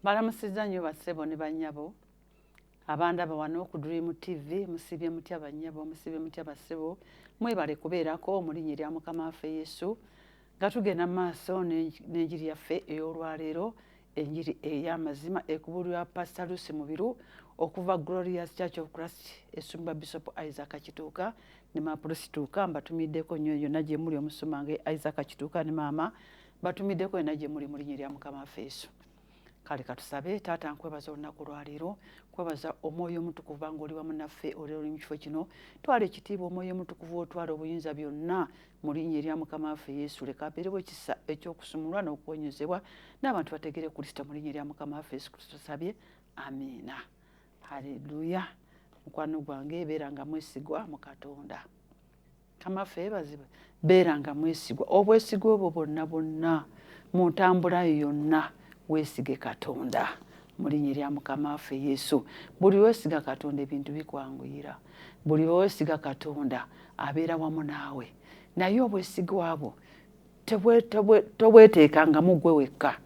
Mbalamusizza nnyo bassebo ne bannyabo abandaba wano ku Dream TV. Musiibye mutya bannyabo? Musiibye mutya bassebo? Mwebale kubeerako mu linnya erya Mukama waffe Yesu nga tugenda mu maaso n'enjiri yaffe ey'olwaleero enjiri ey'amazima ekubuulirwa Pastor Lucy Mubiru okuva Glorious Church of Christ esumba Bishop Isaac Kituuka ne Maama Prossy Tuuka mbatumiddeko nnyo yonna gye muli omusumba nga Isaac Kituuka ne maama batumiddeko yena gye muli mu linnya erya mukama waffe yesu kale katusabe taata nkwebaza olunaku lwaleero kwebaza omwoyo omutukuvu banga oli wamu naffe olero oli mu kifo kino twala ekitiibwa omwoyo omutukuvu otwala obuyinza byonna mu linnya erya mukama waffe yesu leka abeerewo ekisa ekyokusumulwa n'okuwonyezebwa n'abantu bategere kristo mu linnya erya mukama waffe yesu kristo tusabye amiina haleluya mukwano gwange ebeera nga mwesigwa mu katonda kamaffe yebaziba beera nga mwesigwa obwesigwa obwo bwonna bwonna mu ntambula yo yonna weesige katonda mu linnya erya mukama waffe yesu buli weesiga katonda ebintu bikwanguyira buli weesiga katonda abeera wamu naawe naye obwesigwa bwo tobweteeka nga mugwe wekka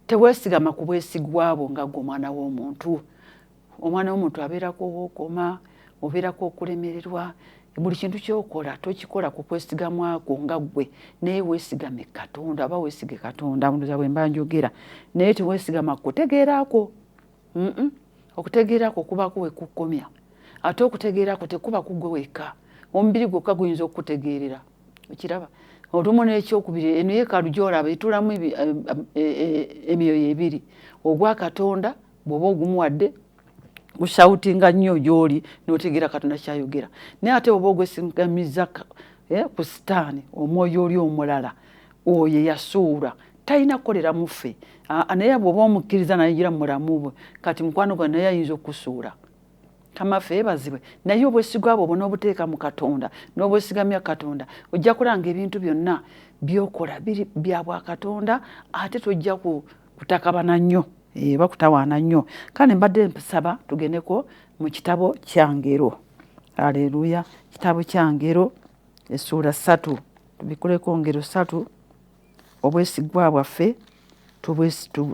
teweesigama ku bwesigwa bwo nga gwe omwana w'omuntu omwana womuntu abeerako owokoma obeerako okulemererwa buli kintu kyokola tokikola ku kwesigamwako nga ggwe naye weesigame katonda aba weesige katonda ndoza bwe mba njogera naye teweesigama kukutegeerako okutegeerako kubaako we kukkomya ate okutegeerako tekuba ku ggwe wekka omubiri gwokka guyinza okukutegeerera okiraba olumu n'ekyokubiri eno yeekaalu gyolaba etulamu eh, eh, eh, emyoyo ebiri ogwa katonda bwoba ogumuwadde oshawutinga nnyo gyoli notegeera katonda kyayogera naye ate oba ogwesigamiza eh, ku sitaani omwoyo oli omulala oyo eyasuula talina kukolera muffe naye bwoba omukkiriza nayingira mubulamu bwe kati mukwano gwa naye ayinza okusuula kamaffe yebazibwe naye obwesigwa bwo bona obuteeka mu katonda n'obwesigamya katonda ojja kulanga ebintu byonna byokola biri bya bwa katonda ate tojja kutakabana nnyo eh, bakutawaana nnyo kale mbadde nsaba tugendeko mu kitabo kyangero aleluya kitabo kyangero esuula satu tubikuleko ngero satu obwesigwa bwaffe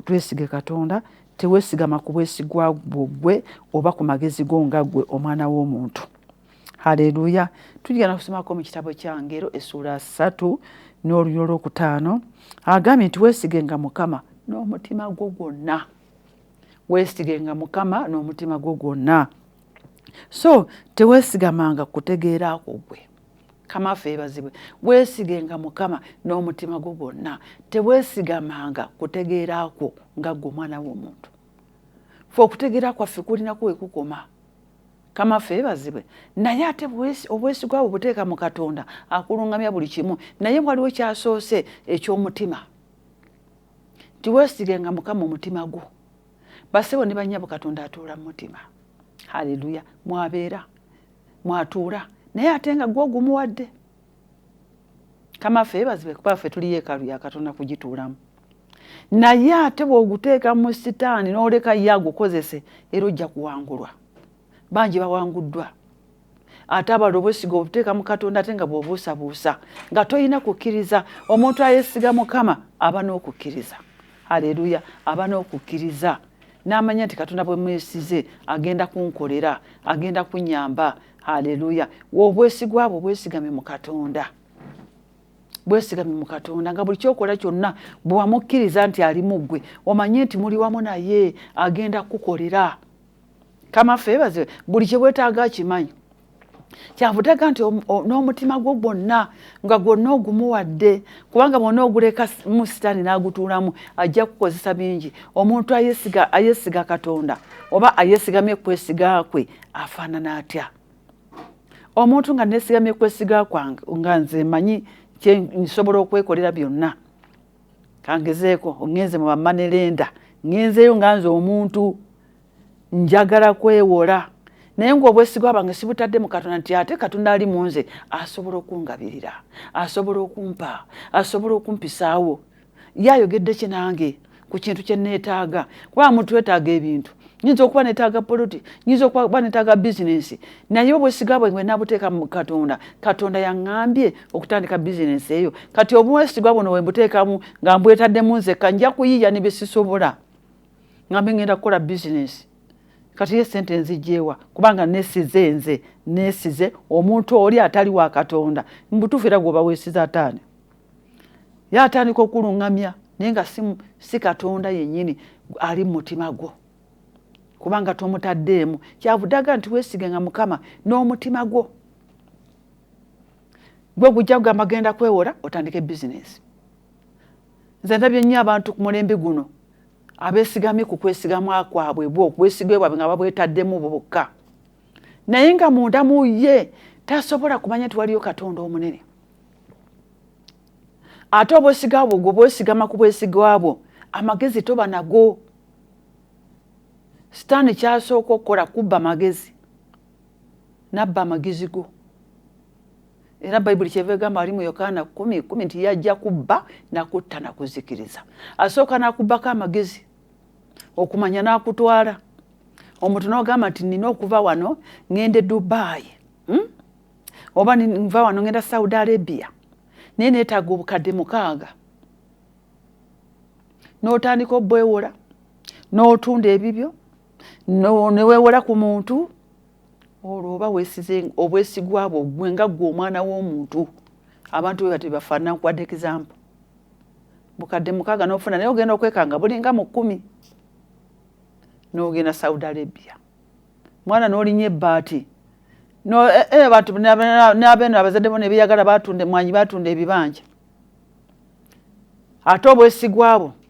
twesige katonda tewesigama ku bwesigwa bwo gwe oba ku magezi go nga gwe omwana w'omuntu haleluya tugenda kusomako mu kitabo kya ngero essuula satu n'oluyo olwokutaano agambye nti wesigenga mukama n'omutima gwo gwonna wesigenga mukama n'omutima gwo gwonna so tewesigamanga kutegeera kwo gwe kama ffe ebazibwe wesigenga mukama n'omutima gwo gwonna tewesigamanga kutegeera kwo nga gwe omwana w'omuntu fe okutegeera kwaffe kulinako wekukoma kama ffe ebazibwe naye ate obwesigwa bwe buteeka mu katonda akulungamya buli kimu naye waliwo kyasoose eky'omutima tiwesigenga mukama omutima gwo basebo ne banyabo katonda atuula mu mutima haleluya mwabeera mwatuula naye ate nga gwe ogumuwadde kamafe bazibe kuba ffe tuli yeekalu ya katonda kugituulamu naye ate bw'oguteeka mu sitaani n'oleka ye agukozese era ojja kuwangulwa bangi bawanguddwa ate abala obwesiga obuteeka mu katonda ate nga bwobuusabuusa nga tolina kukkiriza omuntu ayesiga mukama aba n'okukkiriza aleluya aba n'okukkiriza n'amanya nti katonda bwe mwesize agenda kunkolera agenda kunyamba aleluya obwesigwa bwo bwesigame mu katonda bwesigame mu katonda nga buli kyokola kyonna bwewamukkiriza nti ali mu ggwe omanye nti muli wamu naye agenda kukukolera kama feebaziwe buli kyewetaaga akimanyi kyavutega nti n'omutima gwo gwonna nga gwonna ogumuwadde kubanga bwona oguleka mu sitaani n'agutuulamu ajja kukozesa bingi omuntu ayesiga ayesiga katonda oba ayesigamye kwesiga kwe afaanana atya omuntu nga nesigamye kwesiga kwange nga nze manyi kyensobola okwekolera byonna kangezeeko ŋŋenze mu bamanerenda ŋŋenzeeyo nga nze omuntu njagala kwewola naye ng'obwesigwa bwange sibutadde mu katonda nti ate katonda ali mu nze asobola okungabirira asobola okumpa asobola okumpisaawo ye ayogedde ki nange ku kintu kye nneetaaga kuba mutwetaaga ebintu nyinza okuba netaaga poloti nyinza okuba netaaga bizinensi naye obwesiga bwe bwenabuteeka mu katonda katonda yaŋambye okutandika bizinensi eyo kati obumwesigwa buno wembuteekamu nga mbwetaddemu nzekka nja kuyiiya ne byesisobola nga mbe ngenda kukola bizinensi kati ye sente nzijjeewa kubanga nesize nze nesize omuntu oli atali wa katonda mubutuufu era gwoba wesize ataani ye atandika okulungamya naye nga si katonda yennyini ali mu mutima gwo kubanga tomutaddeemu kyavudaga nti wesigenga mukama n'omutima gwo gwe gujja kugamba genda kwewola otandike bizinesi nze ndabye nnyo abantu ku mulembe guno abesigamye ku kwesigamu kwabwe bwe obwesigwe bwabwe nga babwetaddemu bokka naye nga munda mu ye tasobola kumanya nti waliyo katonda omunene ate obwesiga bwo gwe bwesigama ku bwesigwa bwo amagezi toba nago sitaani kyasooka okukola kubba magezi n'abba amagezi go era bayibuli kyeva egamba ali mu yokaana kumi kumi nti yajja kubba nakutta nakuzikiriza asooka nakubbako amagezi okumanya nakutwala omuntu nogamba nti nina okuva wano ngende dubayi hmm? oba nva wano ngenda saudi arabia naye netaga obukadde mukaaga notandika obwewola notunda ebibyo newewola ku muntu olwo oba wesize obwesigwa bwo gwe nga gwe omwana w'omuntu abantu bwe bati bafaanana nkuwadde example bukadde mukaaga n'ofuna naye ogenda okwekanga bulinga mu kkumi n'ogenda saudi arabia mwana n'olinya ebbaati no eh, eh, abantu n'abeeno abazadde bo nebeyagala batunda mwanyi batunda ebibanja ate obwesigwa bwo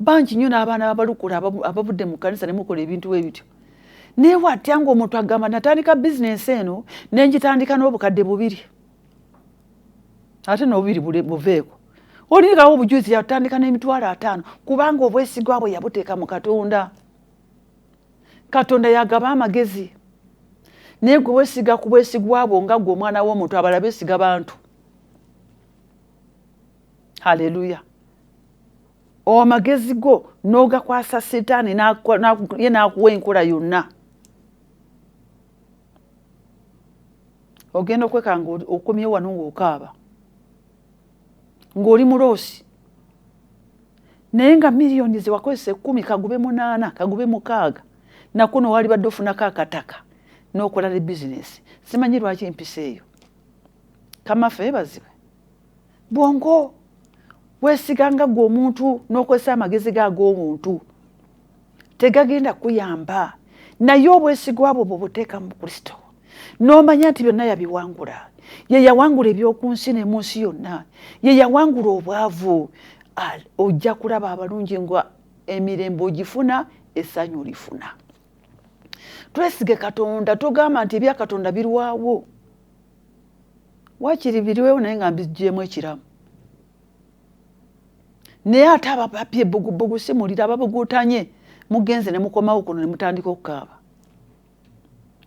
bangi nnyo n'abaana babalukula abavudde mu kanisa nemukola ebintu we bityo naye watya ngaomuntu agamba natandika bizinensi eno nenjitandika n'obukadde bubiri ate nobubiri buveeko olirikawo obujuzi yatandika n'emitwalo ataano kubanga obwesigwa bwe yabuteeka mu katonda katonda yagaba amagezi naye gwe wesiga ku bwesigwa bwo nga gwe omwana w'omuntu abala besiga bantu haleluya amagezi go n'ogakwasa sitaani ye n'akuwa enkola yonna ogenda okwekanga okomye wano ng'okaaba ng'oli muloosi naye nga miliyoni zewakozesa ekkumi kagube munaana kagube mukaaga nakuno waalibadde ofunako akataka n'okola ne bizinesi simanyi lwaki empisa eyo kamafe ebazibwe bwongo wesiga nga gwe omuntu nokozesa amagezi ge ag'obuntu tegagenda kuyamba naye obwesigwa bwo bwobuteeka mu kristo nomanya nti byonna yabiwangula ye yawangula eby'oku nsi ne mu nsi yonna ye yawangula obwavu ojja kulaba abalungi nga emirembe ogifuna essanyu olifuna twesige katonda togamba nti ebya katonda birwawo wakiri biriwewo naye nga mbigyemu ekiramu naye ate ababapye bugubugu simulira ababugutanye mugenze nemukomawo kuno nemutandika okukaaba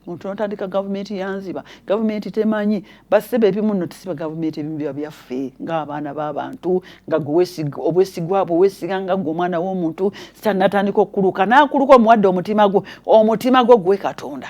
muntu notandika gavumenti yanziba gavumenti temanyi basebe ebimu no tusiba gavumenti ebimu biba byaffe ngaabaana babantu nga obwesigwa bwe wesiga nga gwe omwana womuntu sitanatandika okukuluka nakuluka omuwadde omutima gwo omutima gwo gwe katonda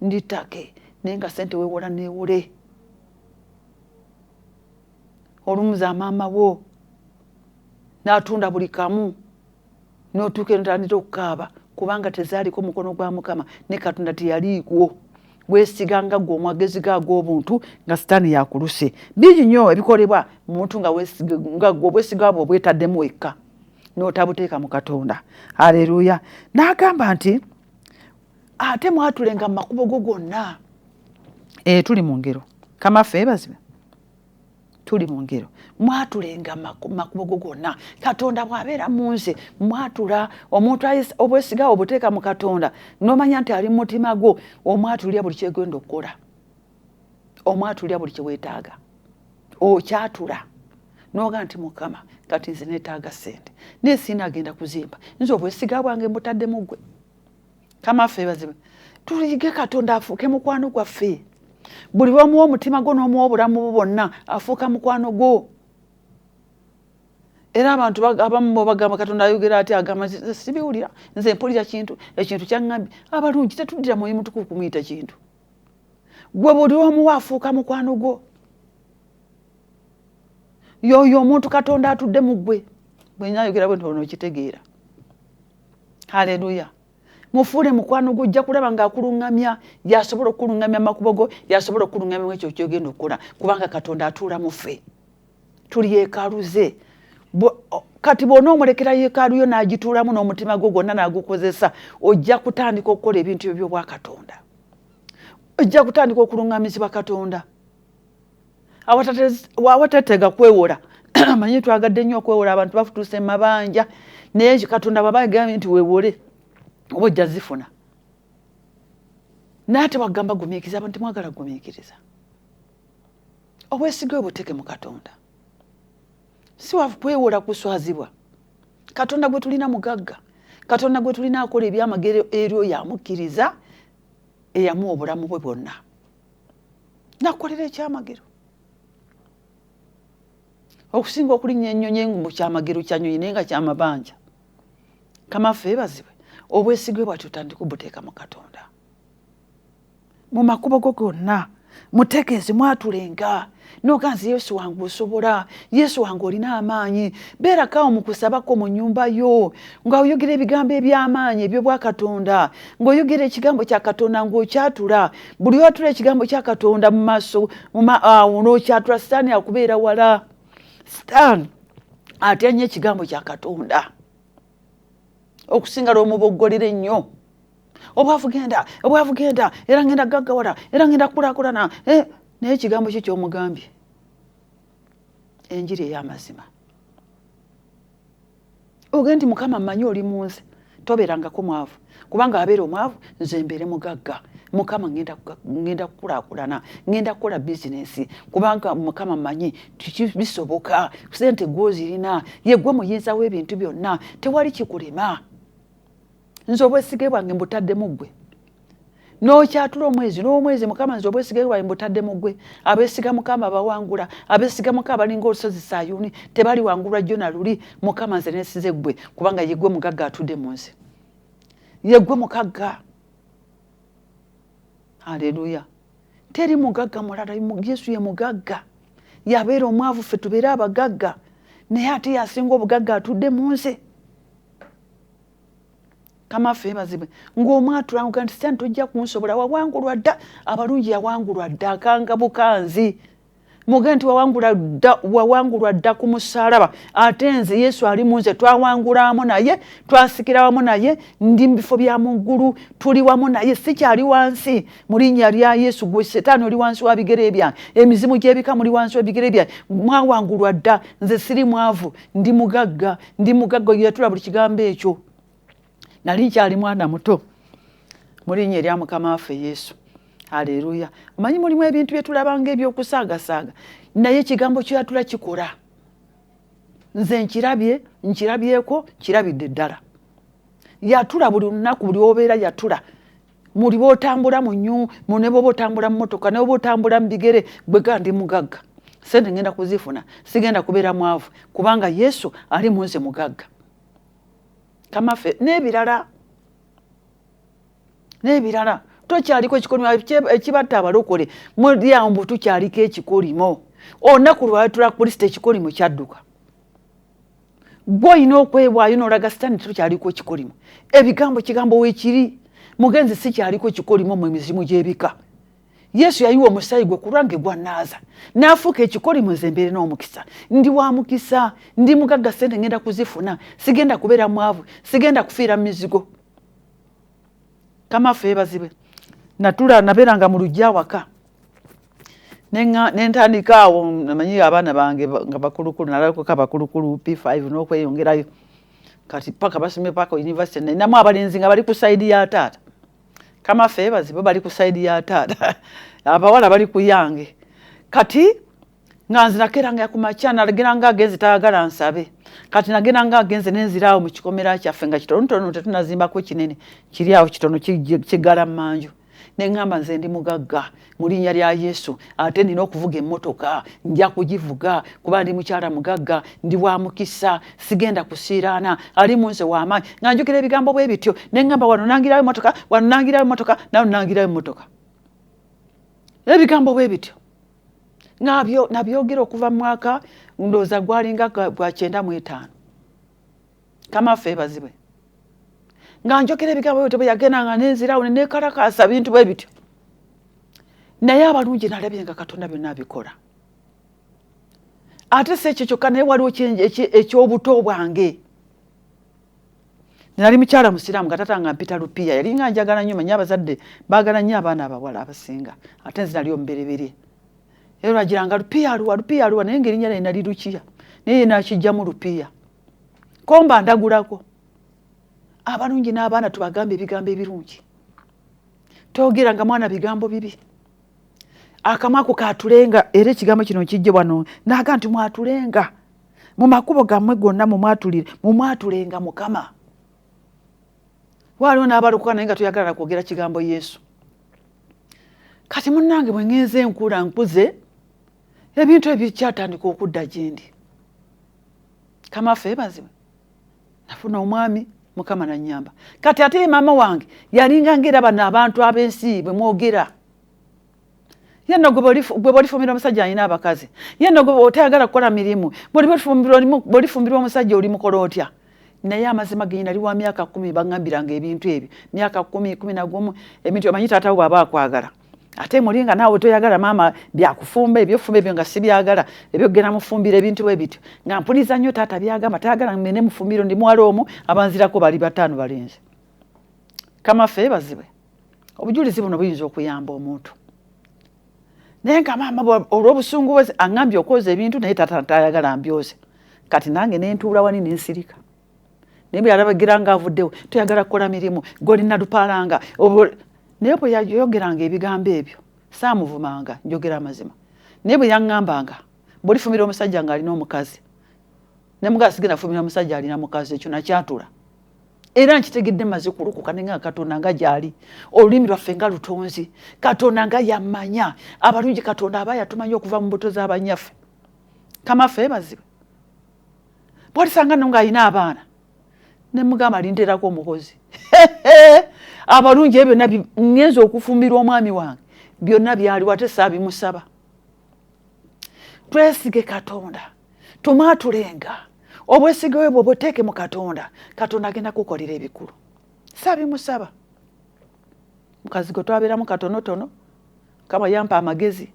ndi take naye nga sente wewola newole olumuza maama wo natunda buli kamu notuuka enotandita okukaaba kubanga tezaaliko mukono gwa mukama ne katonda teyaliikwo gwesiga nga gwe omwagezi ga g'obuntu nga sitaani yakuluse bingi nnyo ebikolebwa muntu nga gwe obwesiga bwe obwetaddemu wekka n'otabuteeka mu katonda aleluya n'agamba nti ate mwatulenga mu makubo go gonna eh, tuli mu ngero kamaffe ebazibwe tuli mu ngero mwatulenga makubo go gonna katonda bw'abeera mu nze mwatula omuntu obwesigawo obuteeka mu katonda n'omanya nti ali mu mutima gwo omwatulira buli kyegenda okukola omwatulira buli kyewetaaga okyatula noga nti mukama kati nze netaaga sente naye siina agenda kuzimba nze obwesiga bwange mbutadde muggwe kamaffe baziba tuyige katonda afuuke mukwano gwaffe buli lwomuwa omutima gwo n'omuwa obulamu bwo bwonna afuuka mukwano gwo era abantu abamu bagamba katonda ayogera ati agamba sibiwulira nze mpulira kintu ekintu kyaŋŋambi abalungi tetuddira mwoyo mutuku kumuyita kintu gwe buli omuwa afuuka mukwano gwo yoyo omuntu katonda atudde mu ggwe bwenyayogera bwe ntono okitegeera haleluya mufuule mukwano gwo ojja kulaba ng'akuluŋŋamya yasobola okukuluŋŋamya amakubo go yasobola okukuluŋŋamya mu ekyo kyogenda okukola kubanga katonda atuula mu ffe tuli yekaaluze kati bwona omulekera yekaalu yo n'agituulamu n'omutima gwo gwonna n'agukozesa ojja kutandika okukola ebintu ebyo by'obwakatonda ojja kutandika okuluŋŋamizibwa katonda awatatega kwewola manyi twagadde nnyo okwewola abantu bafutuusa emabanja naye katonda bwaba agambye nti wewole oba ojja zifuna naye ate wagamba gumiikiriza abantu temwagala gumiikiriza obwesige obuteke mu katonda si wakwewola kuswazibwa katonda gwe tulina mugagga katonda gwe tulina akola ebyamagero eri oyo amukkiriza eyamuwa obulamu bwe bwonna nakukolera ekyamagero okusinga okulinnya ennyonyi engumu kyamagero kyanyonyi naye nga kyamabanja kamaffe ebazibwe obwesigwe bwati otandika obuteeka mu katonda mu makubo go gonna mutegeeze mwatulenga noga nze yesu wange osobola yesu wange olina amaanyi beerakawo mu kusabako mu nyumba yo nga oyogera ebigambo eby'amaanyi ebyobwakatonda ng'oyogera ekigambo kya katonda ng'okyatula buli watula ekigambo kya katonda mu maaso awo n'okyatula sitaani akubeera wala sitaani atya nnyo ekigambo kya katonda okusinga lwomuboggolera ennyo obwavu genda obwavu genda era ngenda gaggawala era ngenda kukulakulana eh, naye ekigambo kyo kyomugambye enjiri ey'amazima oge nti mukama mmanyi oli mu nsi tobeerangako mwavu kubanga abeera omwavu nze mbeere mugagga mukama ngenda kukulakulana ngenda kukola bizinesi kubanga mukama manyi bisoboka sente gwozirina yegwe muyinza w'ebintu byonna tewali kikulema nze obwesige bwange mbutadde mu ggwe n'okyatula omwezi n'omwezi mukama nze obwesige bwange mbutadde mu ggwe abeesiga mukama bawangula abeesiga mukama balinga olusozi sayuni tebaliwangulwa jjo na luli mukama nze nesize ggwe kubanga yeggwe mugagga atudde mu nze yeggwe mukagga aleluya teri mugagga mulala yesu ye mugagga yabeera omwavu ffe tubeere abagagga naye ate yasinga obugagga atudde mu nze kamaffe ebazibwe ngaomwatulanga nti sani tojja kunsobola wawangulwa dda abalungi yawangulwa dda akanga bukanzi muge nti wawangulwa dda ku musalaba ate nze yesu ali mu nze twawangula wamu naye twasikira wamu naye ndi mu bifo bya muggulu tuli wamu naye sikyali wansi mu linnya lya yesu gwe setaani oli wansi wa bigere byange emizimu gy'ebika muli wansi wa bigere byange mwawangulwa dda nze siri mwavu ndi mugagga ndi mugagga yatula buli kigambo ekyo nali nkyali mwana muto mulinya erya mukama waffe yesu aleluya omanyi mulimu ebintu byetulabanga ebyokusaagasaaga naye ekigambo kyoyatula kikora nze nkirabye nkirabyeko nkirabidde ddala yatula buli lunaku buli obeera yatula muli botambula munyu mune boba otambula mumotoka neboba otambula mubigere gwega ndi mugagga sente ngenda kuzifuna sigenda kubeera mwavu kubanga yesu ali munze mugagga kamafe nebirala nebirala tokyaliko ekikolimo ekibatta abalokole mulyawo mbu tukyaliko ekikolimo olunaku lwatula kristo ekikolimo kyadduka gwe olina okwewaayo nolaga sitaani kiro kyaliko ekikolimo ebigambo kigambo wekiri mugenzi si kyaliko ekikolimo mu emizimu gyebika yesu yayiwa omusaayi gwe kulwange gwanaaza naafuuka ekikolimo nze mbeere n'omukisa ndi wa mukisa ndi mugagga sente ngenda kuzifuna sigenda kubeera mwavu sigenda kufiira mu mizigo kamafe ebazibwe natula nabeeranga mu lujja awaka nentandika awo namanyi abaana bange nga bakulukulu nalakoka bakulukulu p5 nokweyongerayo kati paka basome paka university namu abalenzi nga bali ku saidi ya taata kama febazi bo bali ku saidi ya taata abawala bali kuyange kati nga nze nakeranga kumakya nageranga agenze tayagala nsabe kati nageranga agenze nenziraawo mu kikomera kyaffe nga kitonotono tetunazimbako kinene kiri awo kitono kigala manju ne ŋŋamba nze ndi mugagga mu linnya lya yesu ate nina okuvuga emmotoka nja kugivuga kuba ndi mukyala mugagga ndi wa mukisa sigenda kusiiraana ali mu nze w'amaanyi nga njukira ebigambo bwe bityo ne ŋŋamba wano nangirayo emmotoka wano nangirayo emmotoka nawe nangirayo emmotoka ebigambo bwe bityo nabyogera okuva mu mwaka ndowooza gwalinga gwa kyenda mu etaano kama ffe ebazibwe nga njogera ebigambo byo tebeyagenda nga nenzirawo nenekalakaasa bintu bwe bityo naye abalungi nalabye nga katonda byonna abikola ate si ekyo kyokka naye waliwo ekyobuto bwange nali mukyala musiraamu nga tata nga mpita lupiya yali nga njagala nyo manya abazadde bagala nyo abaana abawala abasinga ate nzi nali omubereberye era lwagiranga lupiya aluwa lupiya aluwa naye ngaerinnya naye nali lukiya naye nakijjamu lupiya komba ndagulako abalungi n'abaana tubagambe ebigambo ebirungi togera nga mwana bigambo bibi akamwa ko katulenga era ekigambo kino kijje wano naga nti mwatulenga mu makubo gammwe gonna mumwatulire mumwatulenga mukama waliwo n'abalokoka naye nga toyagalala kwogera kigambo yesu kati munange bwe ngenze enkula nkuze ebintu ebikyatandika okudda gyendi kamafe ebazibwe nafuna omwami mukama nanyamba kati ate maama wange yalinga ngaera bano abantu abensi bwemwogera yeno gwe bolifumbira omusajja alina abakazi yeno gwe otayagala kukola mirimu bolifumbirwa omusajja oli mukola otya naye amazima genyi nali wa myaka kumi bagambiranga ebintu ebyo myaka kumi kumi nagumu ebintu amanyi taatawo bwaba akwagala ate muli nga naawe toyagala maama byakufumba ebyofumba ebyo nga sibyagala ebyokugenda mufumbira ebintu bwe bityo nga mpuliza nnyo taata byagamba tayagala mene mufumbiro ndi muwala omu abanzirako bali bataano balinze kamafe ebazibwe obujulizi buno buyinza okuyamba omuntu naye nga maama olwobusungu bwe aŋambye okwoza ebintu naye taata tayagala mbyoze kati nange nentuula wani nensirika naye bwe yalabagira nga avuddewo toyagala kukola mirimu golina lupaalanga naye bwe yayogeranga ebigambo ebyo saamuvumanga njogera amazima naye bwe yaŋŋambanga bwolifumira omusajja ng'alina omukazi ne mugaa sigenda fumira omusajja alina mukazi ekyo nakyatula era nkitegedde maze kulokoka naye nga katonda nga gyali olulimi lwaffe nga lutonzi katonda nga yamanya abalungi katonda aba yatumanya okuva mu mbuto z'abanyaffe kamafe bazibe bwalisanga no ng'alina abaana ne mugamba linterako omukozi abalungi ebyo byonna ŋŋenza okufumbirwa omwami wange byonna byaliwo ate saabimusaba twesige katonda tumaatulenga obwesige we bwo buteeke mu katonda katonda agenda kukolera ebikulu saabimusaba mukazi gwe twabeeramu katonotono kaba yampa amagezi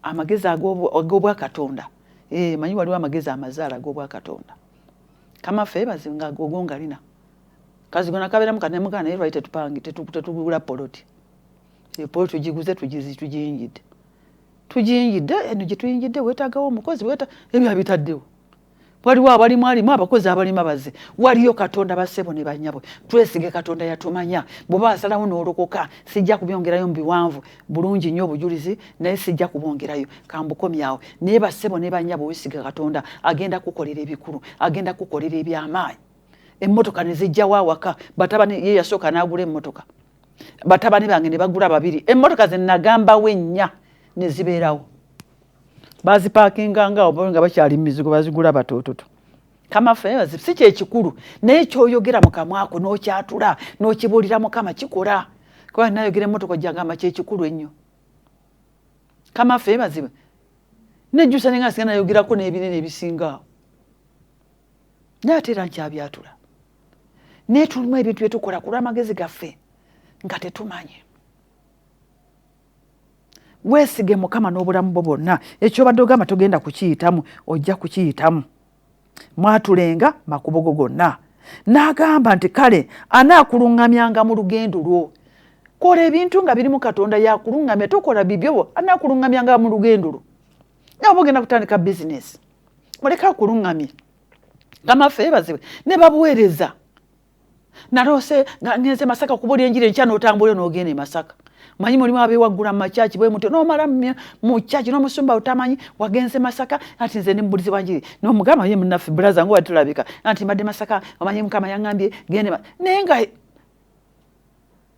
amagezi ag'obwakatonda eh, manyi waliwo amagezi amazaala ag'obwakatonda kama ffe bazi nga gogo ngalina kazi gona kabeera mu kanemugaa naye lwali tetupange tetugula poloti eh, poloti tugiguze tugiyingidde tugiyingidde eno gye tuyingidde weetagawo omukozi ebyo abitaddewo waliwo abalimu alimu abakozi abalima baze waliyo katonda basebo ne banyabwe twesige katonda yatumanya bwoba asalawo nolokoka sijja kubyongerayo mubiwanvu bulungi nyo obujulizi naye sijja kubongerayo kambukomyawo naye basebo ne banyabwe wesige katonda agenda kukolera ebikulu agenda kukolera ebyamaanyi emmotoka ne zijjawo awaka batabani ye yasooka n'agula emmotoka batabani bange ne bagula babiri emmotoka ze nagambawo ennya ne zibeerawo bazipakinga nga obo nga bakyali mizigo bazigula batototo kamafe si kyekikulu naye kyoyogera mukamwako nokyatula nokibulira mukama kikola kuba nayogera emotoka jagamba kyekikulu ennyo kamafe baziba nejjusa nenga singa nayogerako nebinene ebisingaawo naye ate era nkyabyatula naye tulimu ebintu byetukola kulwamagezi gaffe nga tetumanyi weesige mukama n'obulamu bwo bwonna ekyobadde ogamba togenda kukiyitamu ojja kukiyitamu mwatulenga makubo go gonna n'agamba nti kale anaakuluŋŋamyanga mu lugendo lwo kola ebintu nga birimu katonda yakuluŋŋamya tokola bibyobo anaakuluŋŋamyanga mu lugendo lwo nawe oba ogenda kutandika bizinesi muleka akuluŋŋamye kamafe ebazibwe ne babuweereza naloose nga ngenze masaka okubuulira enjiri enkya n'otambula n'ogenda e masaka manyi mulimu abewaggula mumakyaki bwe mutyo nomala mukyaki nomusumba utamanyi wagenze masaka anti nze ndi mubulizi wanjiri nomugamba ye munaffe bulaza nga watulabika anti mbadde masaka omanyi mukama yangambye gende naye nga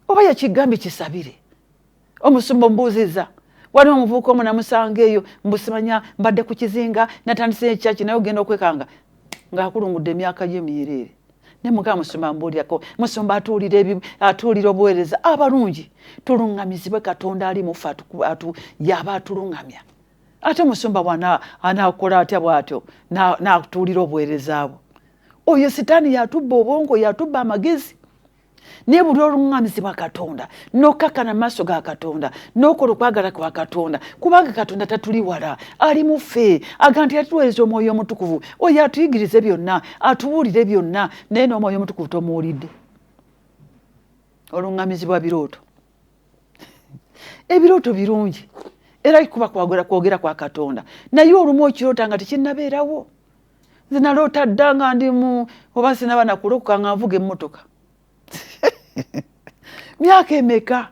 oba yakigambye kisabire omusumba omubuuziza waliwo omuvubuka omu namusanga eyo mbusimanya mbadde ku kizinga natandise ekyaki naye ogenda okwekanga ng'akulungudde emyaka gye myereere ne mukama musumba mbuulyako musumba atuulira atuulira obuweereza abalungi tuluŋŋamizibwe katonda ali mufe yaba atuluŋŋamya ate omusumba bwana anaakola atya bw'atyo n'atuulira obuweereza bwo oyo sitaani yatubba obwongo yatubba amagezi naye buli oluŋŋamizibwa katonda n'okukakkana maaso ga katonda n'okola okwagala kwa katonda kubanga katonda tatuli wala ali mu ffe aga nti yatuweereza omwoyo omutukuvu oyo atuyigirize byonna atubuulire byonna naye n'omwoyo omutukuvu tomuwulidde oluŋŋamizibwa birooto ebirooto birungi era kuba kwagera kwogera kwa katonda naye olumu okiroota nga tekinnabeerawo nze naloota dda nga ndi mu oba sinaba nakulokoka nga nvuga emmotoka myaka emeka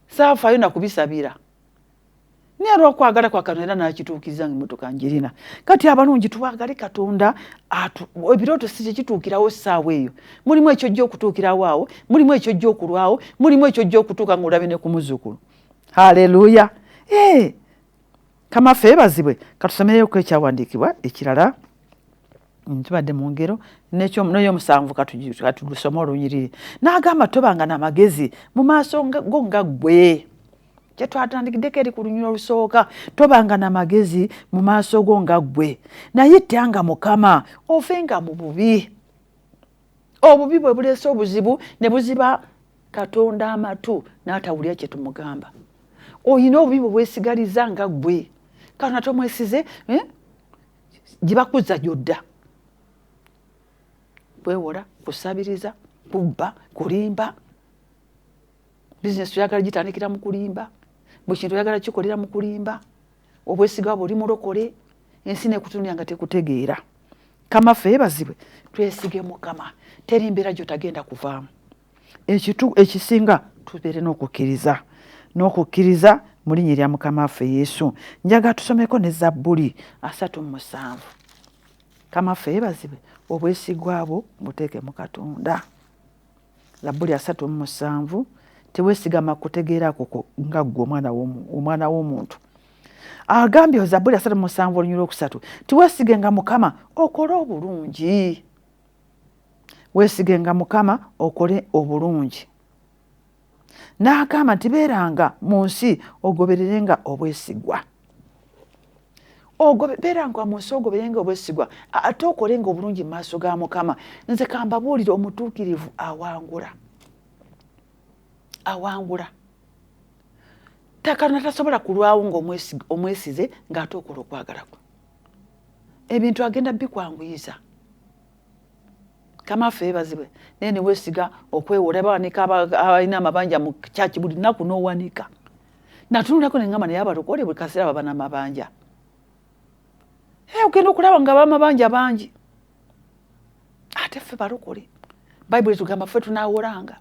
saafayo nakubisabira naye olwokwagala kwa katonda era nakituukiza nga emotoka njirina kati abalungi twagale katonda ebirooto si kyekituukirawo essaawa eyo mulimu ekyojja okutuukirawo awo mulimu ekyojja okulwawo mulimu ekyojja okutuuka nga olabe ne ku muzukulu haleluya eh! kamafe ebazibwe katusomeyoku ekyawandiikibwa ekirala Mm, tubadde mu ngero n'eyomusanvu katudusome olunyiriri n'agamba tobanga na magezi mu maaso go nga ggwe kyetwatandikiddeko eri ku lunyiriro olusooka tobanga na magezi mu maaso go nga ggwe naye tyanga mukama ofe nga mu bubi obubi bwe buleese obuzibu ne buziba katonda amatu n'atawulira kye tumugamba olina obubi bwe bwesigaliza nga ggwe katonda tomwesize eh? gibakuzza gyodda kwewola kusabiriza kubba kulimba bizinesi oyagala gitandikira mu kulimba buli kintu oyagala kikolera mu kulimba obwesiga bwe oli mulokole ensi nekutunira nga tekutegeera kamafe ebazibwe twesige mukama teri mbeera gyotagenda kuvaamu ekitu ekisinga tubeere n'okukkiriza n'okukkiriza mu linnya erya mukama waffe yesu njaga tusomeko ne zabbuli asatu mu musanvu mukama waffe yeebazibwe obwesigwa bwo buteeke mu katonda zabbuli asatu mu musanvu teweesigama kutegeera kuko nga ggwe omwana w'omuntu agambye zabbuli asatu musanvu olunyula okusatu tiwesigenga mukama okole obulungi weesigenga mukama okole obulungi n'agamba nti beeranga mu nsi ogobererenga obwesigwa ogobeeranga mu nsi ogoberenga obwesigwa ate okolenga obulungi mu maaso ga mukama nze kambabuulire omutuukirivu awangula awangula takana tasobola kulwawo ngaomwesize ng'ate okola okwagala kwe ebintu agenda bikwanguyiza kamafe ebazibwe naye newesiga okwewola bawanika abalina amabanja mu kyaki buli naku nowanika natunulako nengamba naye abalokole buli kaseera baba namabanja eh, ogenda okulaba nga bamabanja bangi ate ffe balokole bayibuli etugamba ffe tunawolanga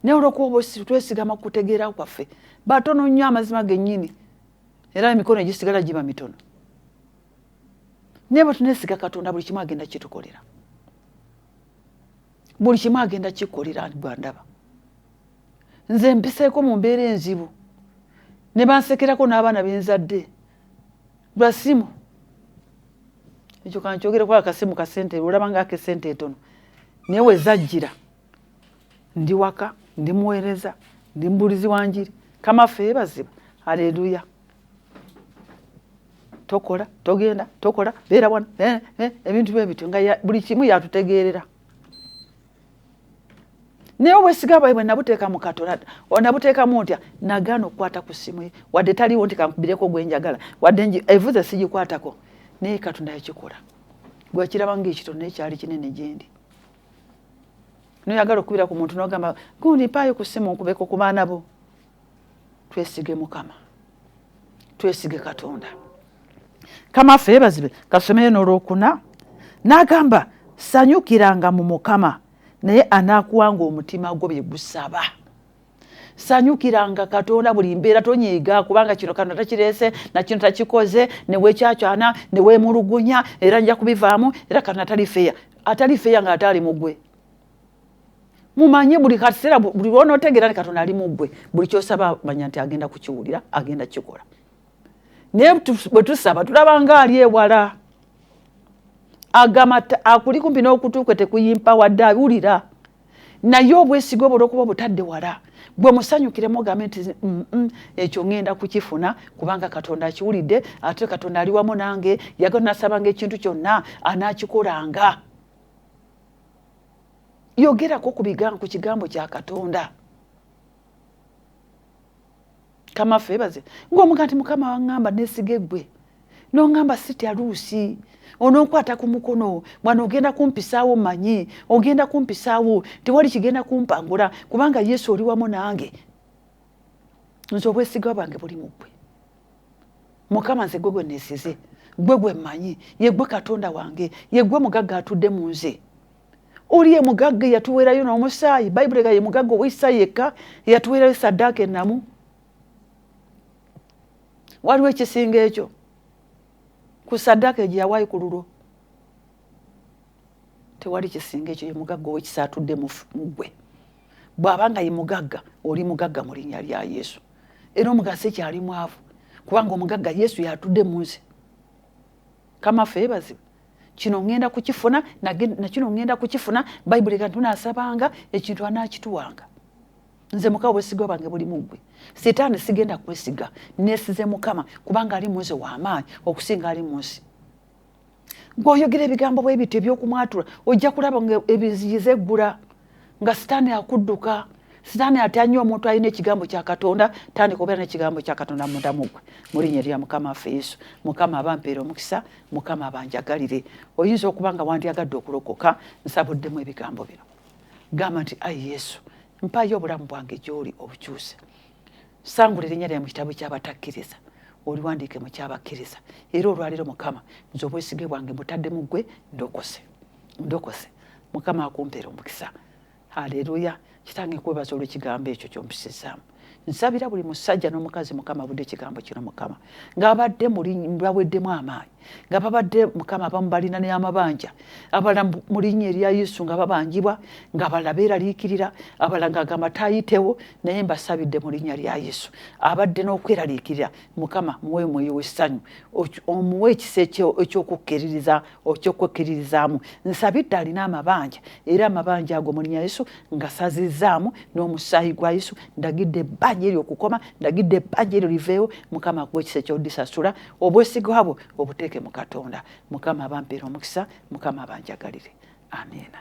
naye olwokuba oba twesigama kukutegeera kwaffe batono nnyo amazima gennyini era emikono egisigala giba mitono naye batunesiga katonda buli kimu agenda kitukolera buli kimu agenda kikolera bwandaba nze mpiseeko mu mbeera enzibu ne bansekerako n'abaana benzadde lwa simu ekyo kankyogereko akasimu kasente olaba nga akesente etono naye wezajjira Ndi waka, ndi muweereza, ndi mubuulizi wa njiri. Kama ffe yebazibwe. Aleluya. Tokola, togenda, tokola, beera wano, eh, eh, ebintu bwe bityo nga buli kimu yatutegeerera. Naye obwesiga bwaibwe nabuteeka mu Katonda, nabuteekamu ntya? Nagaana okukwata ku ssimu ye, wadde taliwo nti kankubireko gwe njagala, wadde evuze sigikwatako, naye Katonda yakikola. Gwekiraba ng'ekitono naye kyali kinene gye ndi. noyagala okubira ku muntu nogamba gundi mpaayo ku simu nkubeko ku baana bo twesige mukama twesige katonda kama ffe bazibe kasomeyo nolwokuna nagamba sanyukiranga mu mukama naye anakuwanga omutima gwo byegusaba sanyukiranga katonda buli mbeera tonyiiga kubanga kino kano takireese nakino takikoze newekyakyana newemulugunya era nja kubivaamu era kano atali feya atali feya nga ataali mugwe mumanye buli kaseera buli lwonotegeera ni katonda ali mugwe buli kyosaba manya nti agenda kukiwulira agenda kukikola naye bwe tusaba tulabanga ali ewala agamba akuli kumpi n'okutuukwe tekuyimpawadde awulira naye obwesige obwo olwokuba obutadde wala gwe musanyukiremu ogambe nti mm, mm, ekyo ŋenda kukifuna kubanga katonda akiwulidde ate katonda ali wamu nange yagala nasabanga ekintu kyonna anakikolanga yogerako ku kigambo kya katonda kama febaze ngomuga nti mukama wangamba nesige gwe nongamba siti aluusi ononkwata ku mukono mwana ogenda kumpisaawo manyi ogenda kumpisaawo tewali kigenda kumpangula kubanga yesu oli wamu nange nze obwesigwa bwange buli mugwe mukama nze gwe gwe nesize gwe gwe manyi yegwe katonda wange yegwe mugagga atudde mu nze oli ye mugagga eyatuweerayo n'omusaayi bayibuli ga ye mugagga ow'ekisa yekka eyatuweerayo saddaaka ennamu waliwo ekisinga ekyo ku saddaaka egyo yawaayo ku lulwo tewali kisinga ekyo ye mugagga ow'ekisa atudde mu gwe bw'aba nga ye mugagga oli mugagga mu linnya lya yesu era omugagga sikyali mwavu kubanga omugagga yesu yatudde mu nsi kama ffe bazibu kino ŋŋenda kukifuna nakino ŋŋenda kukifuna bayibuli kantu naasabanga ekintu anaakituwanga nze mukama obwesigwa bwange buli muggwe sitaani sigenda kwesiga nesize mukama kubanga ali munze wamaanyi okusinga ali munsi gweoyogera ebigambo bwebiti ebyokumwatula ojja kulaba nga ebiziyiza eggula nga sitaani akudduka sitaani atanya omuntu alina ekigambo kya katonda tandika obeera nekigambo kya katonda mudamu gwe mu linnya erya mukama affe yesu mukama abampeera omukisa mukama abanjagalire oyinza okuba nga wandyagadde okulokoka nsabuddemu ebigambo bino gamba nti ayi yesu mpayo obulamu bwange gyoli obukyuse sangula erinnya lyae mu kitabu kyabatakkiriza oliwandiike mu kyabakkiriza era olwaliro mukama nze obwesige bwange butadde mu ggwe ndokose ndokose mukama akumpera omukisa haleluya kitange kwebaza olwekigambo ekyo kyompisizaamu nsabira buli musajja n'omukazi mukama abudde ekigambo kino mukama ng'abadde baweddemu amaanyi nga babadde mukama abamu balina n'amabanja abala mu linnya erya yesu nga babanjibwa nga bala beeraliikirira abala ng'agamba tayitewo naye mbasabidde mu linnya lya yesu abadde n'okweraliikirira mukama muwe omwoyo w'essanyu omuwe ekisa eky'okukkeririza okyokwekiririzaamu nsabidde alina amabanja era amabanja ago mulinya yesu ngasazizaamu n'omusaayi gwa yesu ndagidde ebbanja eryo okukoma ndagidde ebbanja eryo liveewo mukama akuwa ekisa ekyodisasula obwesiga bwo obuteeke mu katonda mukama abampeera omukisa mukama abanjagalire amiina